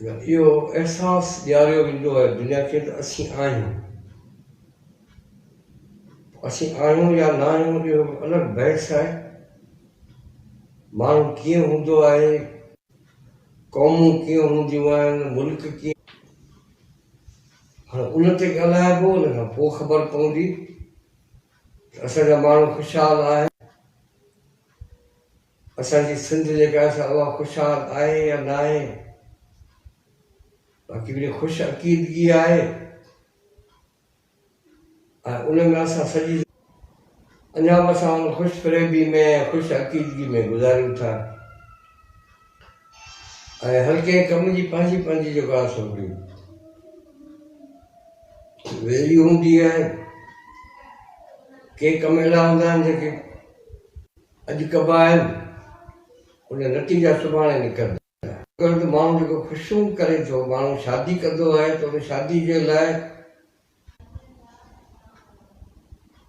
اهو احساس ڏياريو ويندو آهي دنيا کي ته اسين آهيون. اسين آهيون يا نه آهيون اهو هڪ الڳ بحث آهي. ماڻهو ڪيئن هوندو آهي، قومون ڪيئن هونديون آهن، ملڪ ڪيئن هاڻ ان تي ڳالهائبو ان کان پوء خبر پوندي ته اسان جا ماڻهو خوشحال آهن. اسان جي سنڌ جيڪا آهي سا اها خوشحال آهي يا ناهي باقي وڙي خوش عقيدگي آهي ۽ ان ۾ اسان سڄي اڃا به اسان ان خوش فريبي ۾ ۽ خوش عقيدگي ۾ گذاريون ٿا ۽ هر ڪنهن ڪم جي پنهنجي پنهنجي جيڪو آهي سو هڪڙي ويليو هوندي آهي ڪي ڪم اهڙا هوندا آهن جيڪي اڄ ڪبا آهن ان نتيجا سڀاڻي نڪرندا. ڇاڪاڻ ته ماڻهو جيڪو خوشيون ڪري ٿو، ماڻهو شادي ڪندو آهي ته ان شادي جي لاء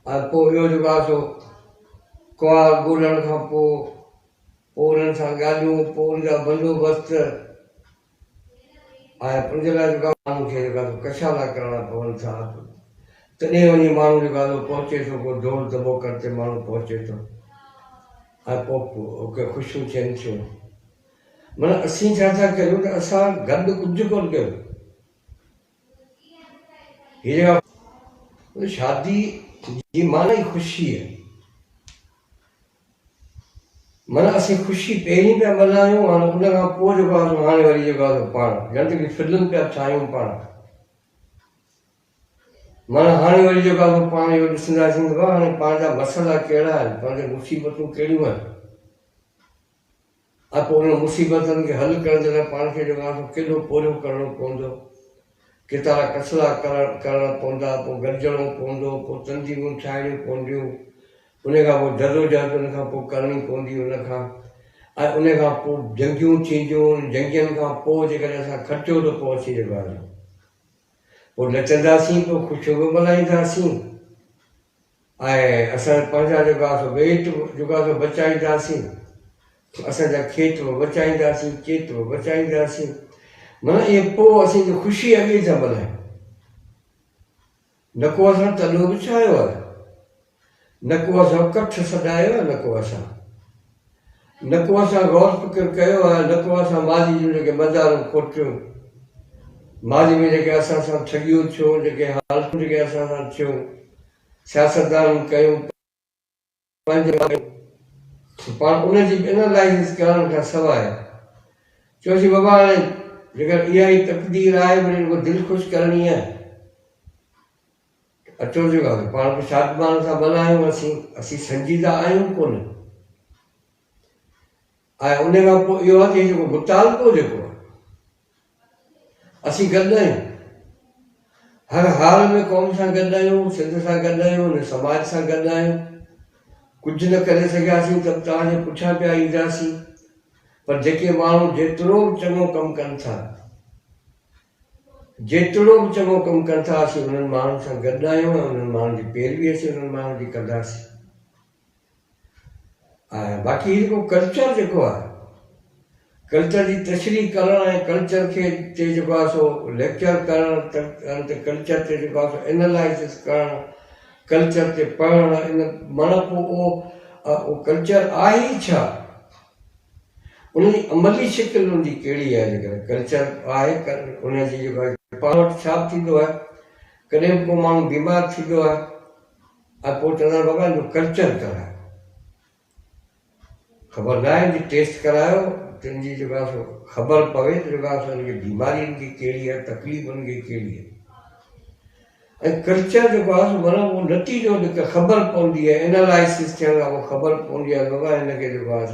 ۽ پوء ٻيو جيڪو آهي سو ڪنوار ڳولڻ کان پوء پوء انهن سان ڳالهيون، پوء ان جا بندوبست. آهي ان جي لاء جيڪا ماڻهن کي جيڪا سو ڪشادا ڪرڻا پون ٿا تڏهن وڃي ماڻهو جيڪا سو پهچي ٿو ڪو دور دٻوڪڙ تي ماڻهو پهچي ٿو ۽ پوء ڪي خوشيون ٿين ٿيون مطلب اسين ڇا ٿا ڪريون ته اسان گڏ ڪجهه ڪون ڪيو هي جيڪا شادي جي معنی خوشي آهي معنيٰ اسين خوشي پهرين پيا ملهايون ۽ ان کان پوء جيڪو آهي سو هاڻي وري جيڪو آهي سو پاڻ ڄڻ ته ڪي فلم پيا ٺاهيون پاڻ معنيٰ هاڻي وري جيڪو آهي سو پاڻ اهو ڏسنداسين ته هاڻي پاڻ جا مسئلا ڪهڙا آهن، پاڻ جون مصيبتون ڪهڙيون آهن. ۽ پوء انهن مصيبتن کي حل ڪرڻ جي لاء پاڻ کي جيڪو آسو ڪيڏو پورهيو ڪرڻو پوندو، ڪيتارا ڪسلا ڪرڻا پوندا، پوء گڏجڻو پوندو، پوء تنظيمون ٺاهڻيون پونديون، انهي کان پوء جدوجهد ان کان پوء ڪرڻي پوندي ان کان ۽ انهي کان پوء جنگيون ٿينديون، انهن جنگين کان پوء جيڪڏهن اسان کٽيو ته پوء اسين جيڪو آهي سو پوء نچنداسين، پوء خوشيون به ملهائينداسين. آهي اسان پنهنجا جوڳا سو ويت به جوڳا سو بچائينداسين اسان جا کيت به بچائينداسين چيت به بچائينداسين منا ائين پو اسين جو خوشي اڳي ٿا ملهايون نه ڪو اسان تلو به ڇايو آهي نه ڪو اسان ڪٺ سڏايو آهي نه ڪو اسان نه ڪو اسان غور فڪر ڪيو آهي نه ڪو اسان ماضي جون جيڪي مدارون کوٽيون، ماضي ۾ جيڪي اسان سان ٺڳيون ٿيون، جيڪي حالتون جيڪي اسان سان ٿيون، سياستدانن ڪيون، پنهنجن ڪيون ته پاڻ ان جي به انالائيسس ڪرڻ کان سواء چئجي بابا هاڻي جيڪر اها ئي تقدير آهي وري رڳو دل خوش ڪرڻي آهي. اچو جي ڳالهه پاڻ کي شادمان سان ملهايون اسين اسين سنجيده آهيون ڪونه ۽ ان کان پوء اهو آهي جيڪو متعلقو جيڪو آهي اسين گڏ آهيون هر حال ۾ قوم سان گڏ آهيون سنڌ سان گڏ آهيون ان سماج سان گڏ آهيون ڪجهه نه ڪري سگهياسين ته توهان جي پٺيان پيا اينداسين پر جيڪي ماڻهو جيترو به چڱو ڪم ڪن ٿا جيتوڻو به چڱو ڪم ڪن ٿا، اسين انهن ماڻهن سان گڏ آهيون ۽ انهن ماڻهن جي پيروي اسين انهن ماڻهن جي ڪنداسين. آهيان باقي هي جيڪو ڪلچر جيڪو آهي ڪلچر جي تشريح ڪرڻ ۽ ڪلچر کي تي جيڪو آهي سو ليڪچر ڪرڻ ته ڪلچر تي جيڪو آهي سو انالائسس ڪرڻ ڪلچر تي پڙهڻ ان مڻ پوء اهو ڪلچر آهي ئي ڇا؟ ان جي عملي شڪل ان جي ڪهڙي آهي جيڪڏهن ڪلچر آهي ان جي جيڪو آهي پاڻ وٽ ڇا به ٿيندو آهي ڪڏهن به ڪو ماڻهو بيمار ٿيندو آهي ۽ پوء چوندا آهن بابا ان جو ڪلچر ڪرايو خبر نه آهي جي ٽيسٽ ڪرايو تن جي جيڪو آهي خبر پوي ته جيڪو آهي ان جي بيماري ان کي ڪهڙي آهي تڪليف ان کي ڪهڙي آهي ۽ ڪلچر جيڪو آهي سو مطلب اهو نتيجو جيڪا خبر پوندي آهي انالائسس ٿيڻ کان پوء خبر پوندي آهي بابا هن کي جيڪو آهي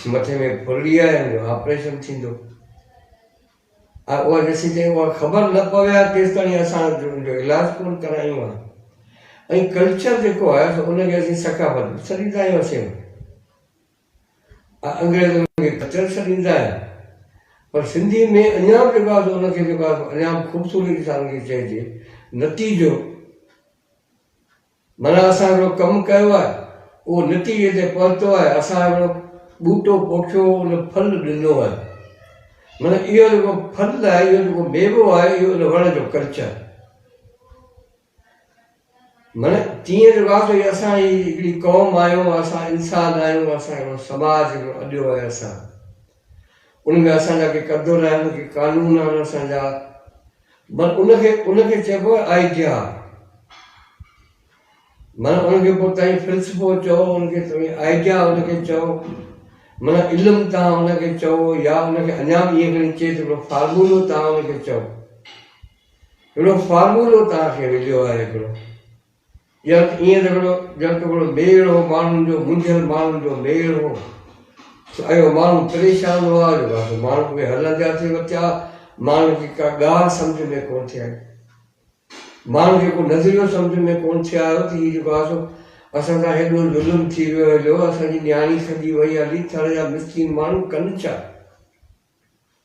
سو مٿي ۾ ڦرلي آهي هن جو آپريشن ٿيندو ۽ اها جيسين تائين اها خبر نه پوي ها تيستائين اسان جو ان جو علاج ڪونه ڪرايون ها ۽ ڪلچر جيڪو آهي سو ان کي اسين ثقافت سڏيندا آهيون اسين انگريز انهن کي ڪچل سڏيندا آهن پر سنڌي ۾ اڃا به جيڪو آهي سو ان کي جيڪو آهي اڃا به خوبصورتي سان ان کي چئجي نتيجو معنيٰ اسان هڪڙو ڪم ڪيو آهي اهو نتيجي تي پهتو آهي اسان هڪڙو ٻوٽو پوکيو ان ڦل ڏنو آهي معنيٰ اهو جيڪو ڦل آهي اهو جيڪو ميوو آهي اهو ان وڻ جو ڪلچر معنيٰ جيئن جو واقعي اسان هي هڪڙي قوم آهيون، اسان انسان آهيون، اسان هڪڙو سماج هڪڙو اڏيو آهي اسان ان ۾ اسان جا ڪي قدر آهن، ڪي قانون آهن اسان جا بس ان کي ان کي چئبو آهي آئيڊيا معنيٰ ان کي پوء تائين فلسفو چئو ان کي توهين آئيڊيا ان کي چئو معنيٰ علم تان ان کي چئو يا ان کي اڃا به ائين کڻي چئي سگھڙو فارمولو تان ان کي چئو. هڪڙو فارمولو توهان کي مليو آهي هڪڙو ڄڻ ته ائين ته هڪڙو ڄڻ ته هڪڙو ميڙ هو ماڻهن جو منجهيل ماڻهن جو ميڙ هو سو اهو ماڻهو پريشان هئا جو بس ماڻهو اهي هلنديا ٿي وتيا ماڻهن کي ڪا ڳالهه سمجهه ۾ ڪونه ٿي آئي ماڻهن کي ڪو نظريو سمجهه ۾ ڪونه ٿي آيو ته هي جيڪو آسو اسان سان هيڏو ظلم ٿي ويو هيڏو اسان جي نياڻي کڄي وئي هلي ٿڙ جا مسڪين ماڻهو ڪن ڇا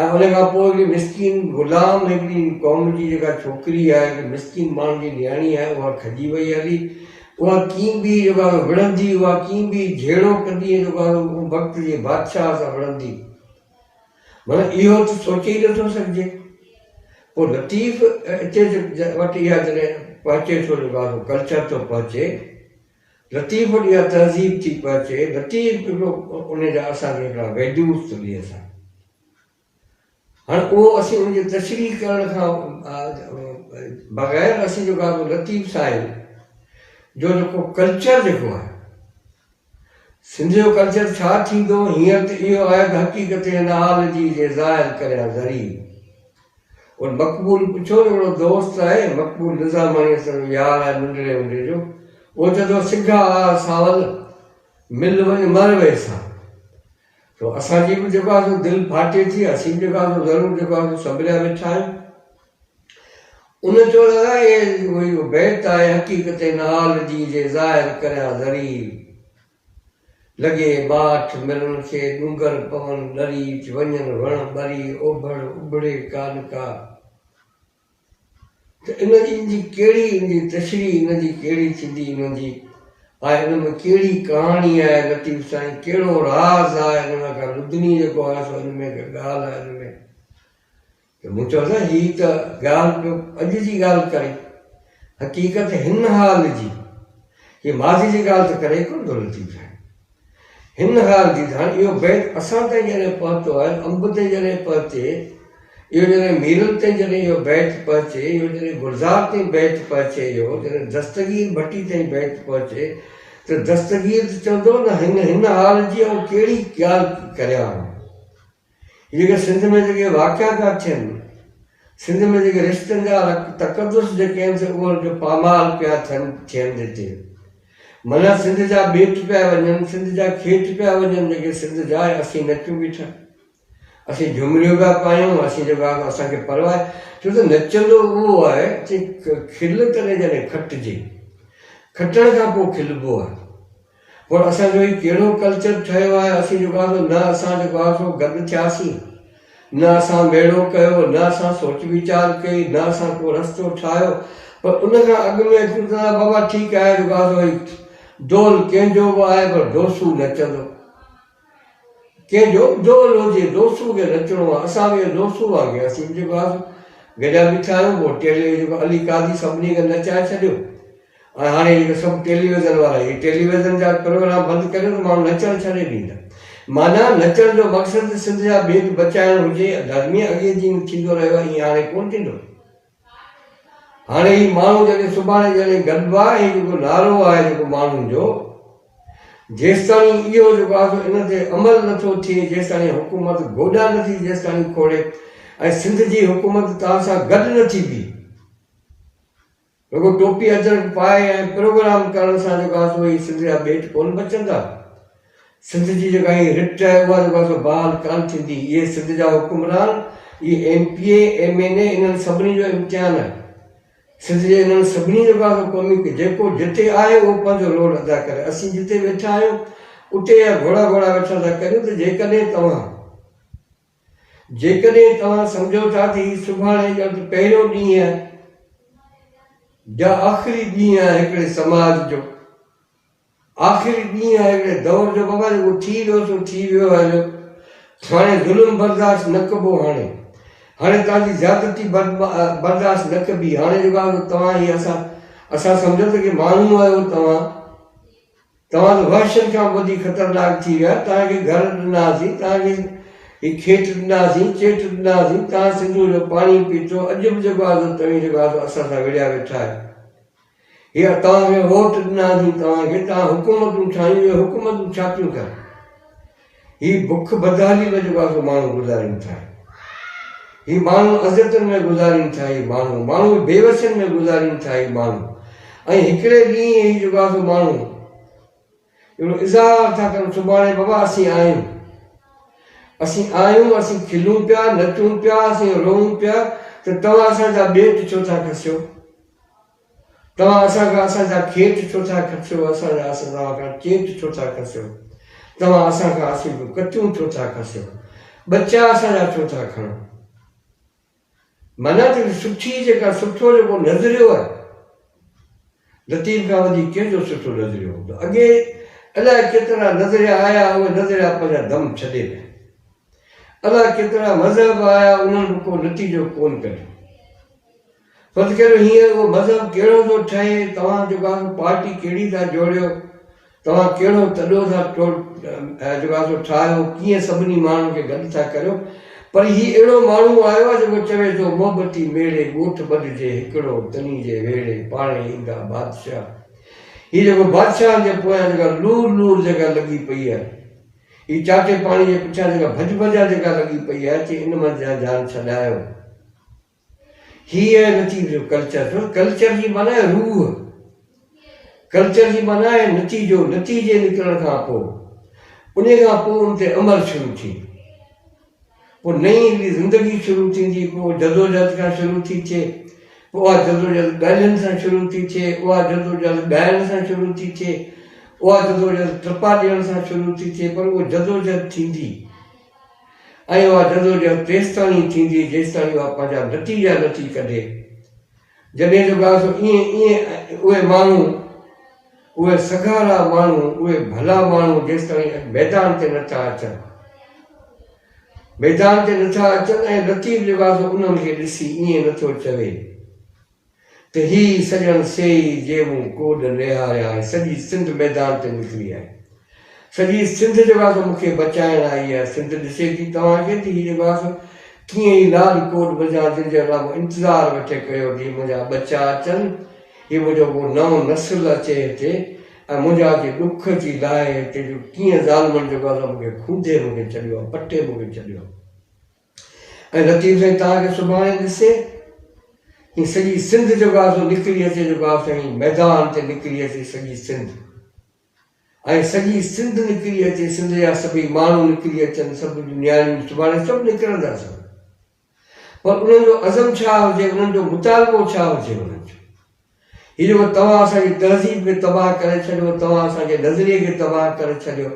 ۽ ان کان پوء هڪڙي مسڪين غلام هڪڙي قوم جي جيڪا ڇوڪري آهي هڪڙي مسڪين ماڻهن جي نياڻي آهي اها کڄي وئي هلي اها ڪين به جيڪو آهي وڙهندي اها ڪين به جهيڙو ڪندي ۽ جيڪو آهي ان وقت جي بادشاهه سان وڙهندي مطلب اهو ته سوچي ئي نٿو سگهجي پوء لطيف اتي وٽ اها جڏهن پهچي ٿو جيڪو آهي ڪلچر ٿو پهچي لطيف وٽ اها تهذيب ٿي پهچي، لطيف هڪڙو ان جا اسان جي هڪڙا ويدوت ته ڏي اسان هاڻ اهو اسين ان جي تشريح ڪرڻ کان بغير اسين جو ڪا به لطيف صاحب جو جيڪو ڪلچر جيڪو آهي سنڌ جو ڪلچر ڇا ٿيندو هينئر ته اهو آهي ته حقيقت هن حال جي جي ظاهر ڪريان ذري ان مقبول پڇيو ته اهڙو دوست آهي؟ مقبول نظاماڻي اسان جو يار آهي ننڍڙي هوندي جو. اهو چئي ٿو سگها آء ساول، مل وڃ مر ويهه سا. سو اسان جي به جيڪو آهي سو دل ڦاٽي ٿي، اسين به جيڪو آهي سو ضرور جيڪو آهي سو سنڀريا ويٺا آهيون. ان چيو ته اهي اهو بيت آهي حقيقتين عال جي جي ظاهر ڪريان ضرير. لڳي ٻاٺ ملڻ کي، ڏونگر پون ڏري، ٿي وڃن وڻ ٻري، اوڀڙ اڀڙي ڪا نه ڪا. ته ان جي ان جي ڪهڙي ان جي تشريح ان جي ڪهڙي ٿيندي انهن جي آء ان ۾ ڪهڙي ڪهاڻي آهي لطيف سائين ڪهڙو راز آهي ان ۾ ڪا لدني جيڪو آهي سو ان ۾ ڪا ڳالهه آهي ان ۾. ته مون چيو نه هي ته ڳالهه پيو اڄ جي ڳالهه ڪري حقيقت هن حال جي هي ماضي جي ڳالهه ته ڪري ڪونه ٿو لطيف سائين هن حال جي ته هاڻي اهو بيت اسان تائين جڏهن پهتو آهي انب تي جڏهن پهچي اهو جڏهن ميرل تي جڏهن اهو بيت پهچي اهو جڏهن گلزار تي بيت پهچي اهو جڏهن دستگير ڀٽي تائين بيت پهچي ته دستگير ته چوندو نه هن هن حال جي آئون ڪهڙي ڳالهه ڪريان جيڪي سنڌ ۾ جيڪي واقعا پيا ٿين، سنڌ ۾ جيڪي رشتن جا تقدس جيڪي آهن سي انهن کي پامال پيا ٿين ٿين ڏتي. منان سنڌ جا ٻيٽ پيا وڃن، سنڌ جا کيت پيا وڃن جيڪي سنڌ جا آهن اسين نچون بيٺا. اسين جهمريون پيا پايون، اسين جيڪو آهي اسان کي پرواهه آهي ڇو ته نچندو اهو آهي چي کل ڪڏهن جڏهن کٽجي، کٽڻ کان پوء کلبو آهي. پر اسان جو هي ڪهڙو ڪلچر ٺهيو آهي، اسين جيڪو آهي سو نه اسان جيڪو آهي سو گڏ ٿياسين، نه اسان ميڙو ڪيو، نه اسان سوچ ويچار ڪئي، نه اسان ڪو رستو ٺاهيو، پر ان کان اڳ ۾ اچون ته بابا ٺيڪ آهي جيڪو آهي سو ڊول ڪنهن جو به آهي پر ڊوسو نچندو. ڪي جو جو لو جي دوسو کي نچڻو آ اسان ويهه دوسو آ گيا سين جي باز گڏيا بيٺا آهيون پوء ٽيلي ويجي ڪو علي قاضي سڀني کي نچائي ڇڏيو ۽ هاڻي هي جو سڀ ٽيلي ويزن وارا هي ٽيلي ويزن جا پروگرام بند ڪريو ته ماڻهو نچڻ ڇڏي ڏيندا معنيٰ نچڻ جو مقصد ته سنڌ جا بيت بچائڻ هجي ڌرمي اڳي جيئن ٿيندو رهيو آهي ايئن هاڻي ڪونه ٿيندو. هاڻي هي ماڻهو جڏهن سڀاڻي ڄڻي گڏبو آهي ۽ جيڪو نعرو آهي جيڪو ماڻهن جو جيستاڻي اهو جيڪو آهي سو ان تي عمل نه ٿو ٿئي جيستاڻي حڪومت گوڏا نه ٿي جيستاڻي کوڙي ۽ سنڌ جي حڪومت توهان سان گڏ نه ٿي بيهي رڳو ٽوپي اجرڪ پائي ۽ پروگرام ڪرڻ سان جيڪو آهي سو هي سنڌ جا ٻيٽ ڪونه بچندا. سنڌ جي جيڪا هي رٽ آهي اها جيڪو آهي سو بحال ڪانه ٿيندي. اهي سنڌ جا حڪمران، اهي M P A, M N A انهن سڀني جو امتحان آهي. سنڌ جي انهن سڀني جيڪو آهي سو قومي ڪي جيڪو جتي آهي اهو پنهنجو رول ادا ڪري. اسين جتي ويٺا آهيون اتي اها گهوڙا گهوڙا ويٺا ٿا ڪريون ته جيڪڏهن توهان جيڪڏهن توهان سمجهو ٿا ته هي سڀاڻي ڄڻ ته پهريون ڏينهن آهي يا آخري ڏينهن آهي هڪڙي سماج جو. آخري ڏينهن آهي هڪڙي دور جو بابا جيڪو ٿي ويو سو ٿي ويو آهي جو هاڻي ظلم برداشت نه ڪبو هاڻي هاڻي توهان جي زيادتي برداشت نه ڪبي هاڻي جيڪو آهي توهان هي اسان اسان سمجهو ته ڪي ماڻهو آهيو توهان توهان ته وحشن کان به وڌيڪ خطرناڪ ٿي ويا توهان کي گهر ڏناسين توهان کي هي کيٽ ڏناسين چيٽ ڏناسين توهان سنڌوء جو پاڻي پيتو اڄ به جيڪو آهي توهين جيڪو آهي اسان سان وڙهيا ويٺا آهيو هي توهان کي ووٽ ڏناسين توهان کي توهان حڪومتون ٺاهيون اهي حڪومتون ڇا ٿيون ڪن هي بک بدحالي ۾ جيڪو آسو ماڻهو گذارين ٿا هي ماڻهو عزتن ۾ گذارين ٿا هي ماڻهو ماڻهو بيوسين ۾ گذارين ٿا هي ماڻهو ۽ هڪڙي ڏينهن هي جيڪو آسو ماڻهو اهڙو اظهار ٿا ڪرن سڀاڻي بابا اسين آهيون اسين آهيون اسين کلون پيا نچون پيا اسين روئون پيا ته توهان اسان جا ٻيٽ ڇو ٿا کسيو توهان اسان کان اسان جا کيت ڇو ٿا کسيو اسان جا اسان توهان کان چيت ڇو ٿا کسيو توهان اسان کان اسين ڪچون ڇو ٿا کسيو ٻچا اسان جا ڇو ٿا کڻو معنيٰ ته سٺي جيڪا سٺو جيڪو نظريو آهي لطيف کان وڌيڪ ڪنهن جو سٺو نظريو هوندو اڳي الاء ڪيترا نظريا آيا اهي نظريا پنهنجا دم ڇڏي ويا الاء ڪيترا مذهب آيا انهن به ڪو نتيجو ڪون ڪڍيو فرض ڪريو هينئر اهو مذهب ڪهڙو ٿو ٺهي توهان جيڪو آهي پارٽي ڪهڙي ٿا جوڙيو توهان ڪهڙو تڏو ٿا دروازو ٺاهيو، ڪيئن سڀني ماڻهن کي گڏ ٿا ڪريو، پر هي اهڙو ماڻهو آيو آهي جيڪو چوي ٿو، محبتي ميڙي ڳوٺ ٻڏجي هڪڙو، تني جي ويڙي پاڻهي ايندا بادشاهه. هي جيڪو بادشاهن جي پويان جيڪا لور لور جيڪا لڳي پئي آهي، هي چاٽي پاڻي جي پٺيان جيڪا ڀڄ ڀڄان جيڪا لڳي پئي آهي، اچي ان منجهان جان ڇڏايو. هي آهي نتيجو ڪلچر جو ڪلچر جي معنيٰ آهي روح ڪلچر جي معنيٰ آهي نتيجو نتيجي نڪرڻ کان پوء ان کان پوء ان تي عمل شروع ٿي پوء نئين هڪڙي زندگي شروع ٿيندي پوء جدوجهد کان شروع ٿي ٿئي پوء اها جدوجهد ڳالهين سان شروع ٿي ٿئي اها جدوجهد ڳائڻ سان شروع ٿي ٿئي اها جدوجهد ٽپا ڏيڻ سان شروع ٿي ٿئي پر اها جدوجهد ٿيندي ۽ اها جدوجهد تيستائين ئي ٿيندي جيستائين اها پنهنجا نتيجا نه ٿي ڪڍي. جڏهن ته ٻيا سو ائين ائين اهي ماڻهو، اهي سگهارا ماڻهو، اهي ڀلا ماڻهو جيستائين اڄ ميدان تي نه ٿا اچن، ميدان تي نه ٿا اچن ۽ لطيف لباسو انهن کي ڏسي ائين نه ٿو چوي. ته هي سڄڻ سيئي جي مون ڪوڏ نهاريا ۽ سڄي سنڌ ميدان تي نڪري آئي. سڄي سنڌ جيڪو آهي سو مون کي بچائڻ آئي آهي. سنڌ ڏسي ٿي توهان کي ته هي جيڪو آهي سو ڪيئن هي لاڏ ڪوڏ منجهان جن جو الله انتظار ويٺي ڪيو ته هي منهنجا ٻچا اچن، هي منهنجو ڪو نئون نسل اچي هتي ۽ منهنجا جي ڏک ٿي لاهي هتي جو ڪيئن ظالمن جيڪو آهي سو مون کي کونڌي مون کي ڇڏيو آهي، پٺي مون کي ڇڏيو آهي. ۽ لطيف سائين توهان کي سڀاڻي ڏسي ھي سڄي سنڌ جيڪو آھي سو نڪري اچي جيڪو آھي سائين ميدان تي نڪري اچي سڄي سنڌ ۽ سڄي سنڌ نڪري اچي سنڌ جا سڀئي ماڻھو نڪري اچن سڀ نياڻيون سڀاڻي سڀ نڪرندا سڀ پر انهن جو عزم ڇا ھجي انهن جو مطالبو ڇا ھجي انهن جو هي جو توهان اسان جي تهذيب کي تباهه ڪري ڇڏيو، توهان اسان جي نظريي کي تباهه ڪري ڇڏيو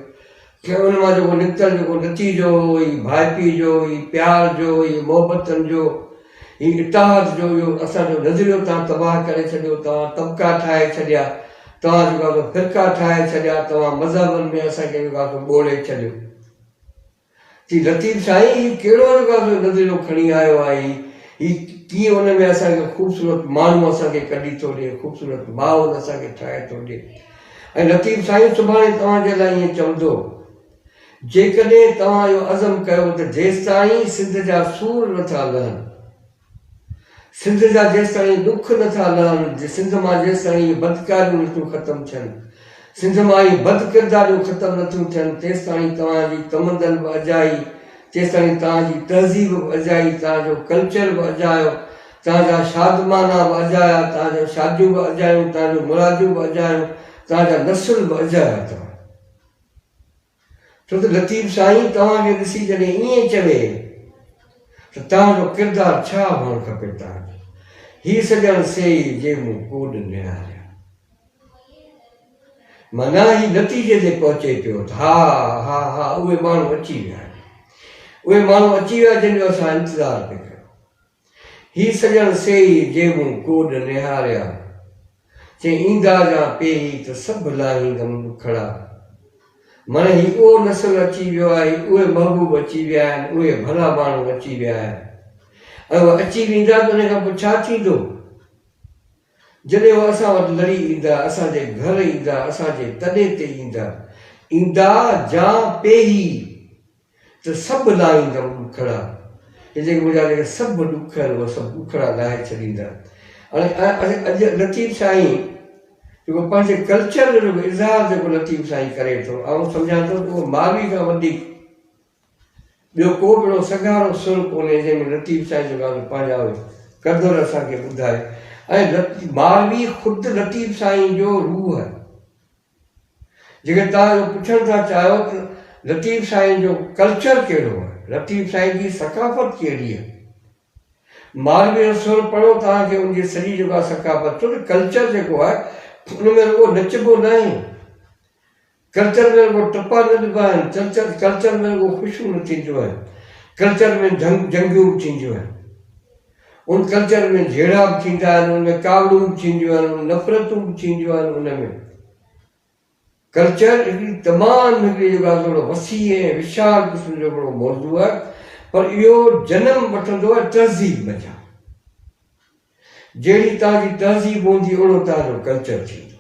۽ ان مان جيڪو نڪتل جيڪو نتيجو هو هي ڀائپي جو، هي پيار جو، هي محبتن جو، هي اتحاد جو اهو اسان جو نظريو توهان تباهه ڪري ڇڏيو، توهان طبقا ٺاهي ڇڏيا، توهان جيڪو آهي سو فرقا ٺاهي ڇڏيا، توهان مذهبن ۾ اسان کي جيڪو آهي سو ٻوڙي ڇڏيو. چي لطيف سائين هي ڪهڙو الغاز جو نظريو کڻي آيو آهي هي ڪيئن ان ۾ اسان کي خوبصورت ماڻهو اسان کي ڪڍي ٿو ڏي خوبصورت ماحول اسان کي ٺاهي ٿو ڏي ۽ لطيف سائين سڀاڻي توهان جي لاء ائين چوندو جيڪڏهن توهان اهو عزم ڪيو ته جيستائين سنڌ جا سور نٿا لهن. سنڌ جا جيستائين ڏک نه ٿا لهن، سنڌ مان جيستائين اهي بدڪاريون نه ٿيون ختم ٿين، سنڌ مان اهي بد ڪرداريون ختم نه ٿيون ٿين، تيستائين توهان جي تمدن به اجائي، تيستائين توهان جي تهذيب به اجائي، توهان جو ڪلچر به اجايو، توهان جا شادمانا به اجايا، توهان جون شاديون به اجايون، توهان جون مراديون به اجايون، توهان جا نسل به اجايا، توهان. ڇو ته لطيف سائين توهان کي ڏسي جڏهن ائين چوي ته توهان جو ڪردار ڇا هئڻ کپي توهان جو هي سڄڻ سيئي جي مون ڪوڏ نهاريا معنيٰ هي نتيجي تي پهچي پيو ته ها ها ها اهي ماڻهو اچي ويا آهن اهي ماڻهو اچي ويا جن جو اسان انتظار پي ڪيو هي سڄڻ سيئي جي مون ڪوڏ نهاريا. چي ايندا جان پيهي ته سڀ لاهيندم ڏکڙا. مڙهه هي اهو نسل اچي ويو آهي، اهي محبوب اچي ويا آهن، اهي ڀلا ماڻهو اچي ويا آهن ۽ اهي اچي ويندا ته ان کان پوء ڇا ٿيندو؟ جڏهن اهي اسان وٽ لڙي ايندا، اسان جي گهر ايندا، اسان جي تڏي تي ايندا. ايندا جان پيهي ته سڀ لاهيندا اهي ڏکڙا، ۽ جيڪي منهنجا جيڪي سڀ ڏک آهن اهي سڀ ڏکڙا لاهي ڇڏيندا. ۽ اڄ لطيف سائين جيڪو پنهنجي ڪلچر جو جيڪو اظهار جيڪو لطيف سائين ڪري ٿو آئون سمجهان ٿو ته اهو ماوي کان وڌيڪ ٻيو ڪو به اهڙو سگهارو سر ڪونهي جنهن ۾ لطيف سائين جيڪو آهي پنهنجا اهي قدر اسان کي ٻڌائي ۽ ماوي خود لطيف سائين جو روح جيڪڏهن توهان اهو پڇڻ ٿا چاهيو ته لطيف سائين جو ڪلچر ڪهڙو آهي، لطيف سائين جي ثقافت ڪهڙي آهي، مالوي رسول پڙهو توهان کي ان جي سڄي جيڪا ثقافت ڇو ته ڪلچر جيڪو آهي ان ۾ رڳو نچبو ناهي، ڪلچر ۾ رڳو ٽپا نه ڏبا آهن، ڪلچر ۾ رڳو خوشيون نه ٿينديون آهن، ڪلچر ۾ جنگيون به ٿينديون آهن. ان ڪلچر ۾ جهيڙا به ٿيندا آهن، ان ۾ ڪاوڙون به ٿينديون آهن، ان نفرتون به ٿينديون آهن، ان ۾ ڪلچر هڪڙي تمام هڪڙي جيڪو آهي سو هڪڙو وسيع ۽ وشال قسم جو هڪڙو موضوع آهي پر اهو جنم وٺندو آهي تهذيب منجهان جهڙي توهان جي تهذيب هوندي اهڙو توهان جو ڪلچر ٿيندو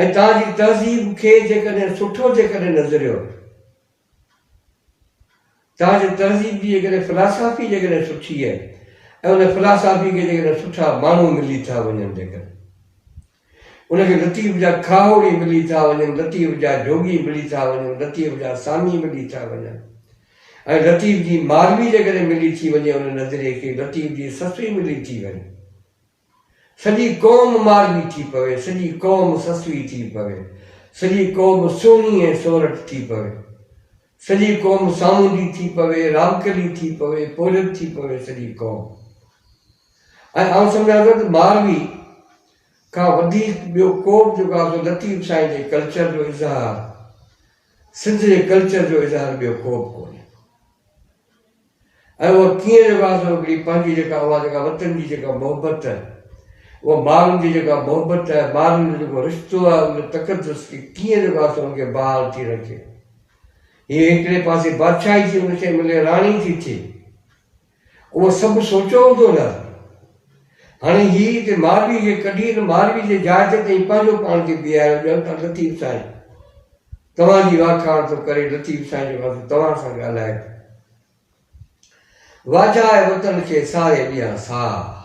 ۽ توهان جي تهذيب کي جيڪڏهن سٺو جيڪڏهن نظريو تان جو تهذيب جي جيڪڏهن فلاسافي جيڪڏهن سٺي آهي ۽ ان فلاسافي کي جيڪڏهن سٺا ماڻهو ملي ٿا وڃن جيڪڏهن ان کي لطيف جا کاهوڙي ملي ٿا وڃن، لطيف جا جوڳي ملي ٿا وڃن، لطيف جا سامي ملي ٿا وڃن ۽ لطيف جي ماروي جيڪڏهن ملي ٿي وڃي ان نظريي کي لطيف جي سسئي ملي ٿي وڃي. سڄي قوم ماروي ٿي پوي، سڄي قوم سسوي ٿي پوي، سڄي قوم سهڻي ۽ سورٺ ٿي پوي، سڄي قوم سامونڊي ٿي پوي، رامڪلي ٿي پوي، پورهيت ٿي پوي، سڄي قوم. ۽ آئون سمجهان ٿو ته ماروي کان وڌيڪ ٻيو ڪو به جيڪو آهي سو لطيف سائين جي ڪلچر جو اظهار، سنڌ جي ڪلچر جو اظهار ٻيو ڪو به ڪونهي. ۽ اهو ڪيئن رواج هو هڪڙي پنهنجي جيڪا اها جيڪا وطن جي جيڪا محبت اها ماڻهن جي جيڪا محبت آهي ماڻهن جو جيڪو رشتو آهي ان تقدس کي ڪيئن رواج ان کي بحال ٿي رکي هي هڪڙي پاسي بادشاهي ٿي ان کي ملي راڻي ٿي ٿي اهو سڀ سوچو هوندو نه هاڻي هي هتي ماروي کي ڪڍي ماروي جي جاء تي تائين پنهنجو پاڻ کي بيهاريو ڄڻ ته لطيف سائين توهان جي واکاڻ ٿو ڪري لطيف سائين جو وس توهان سان ڳالهائي ٿو واجهاء وطن کي ساري ڏيان ساهه.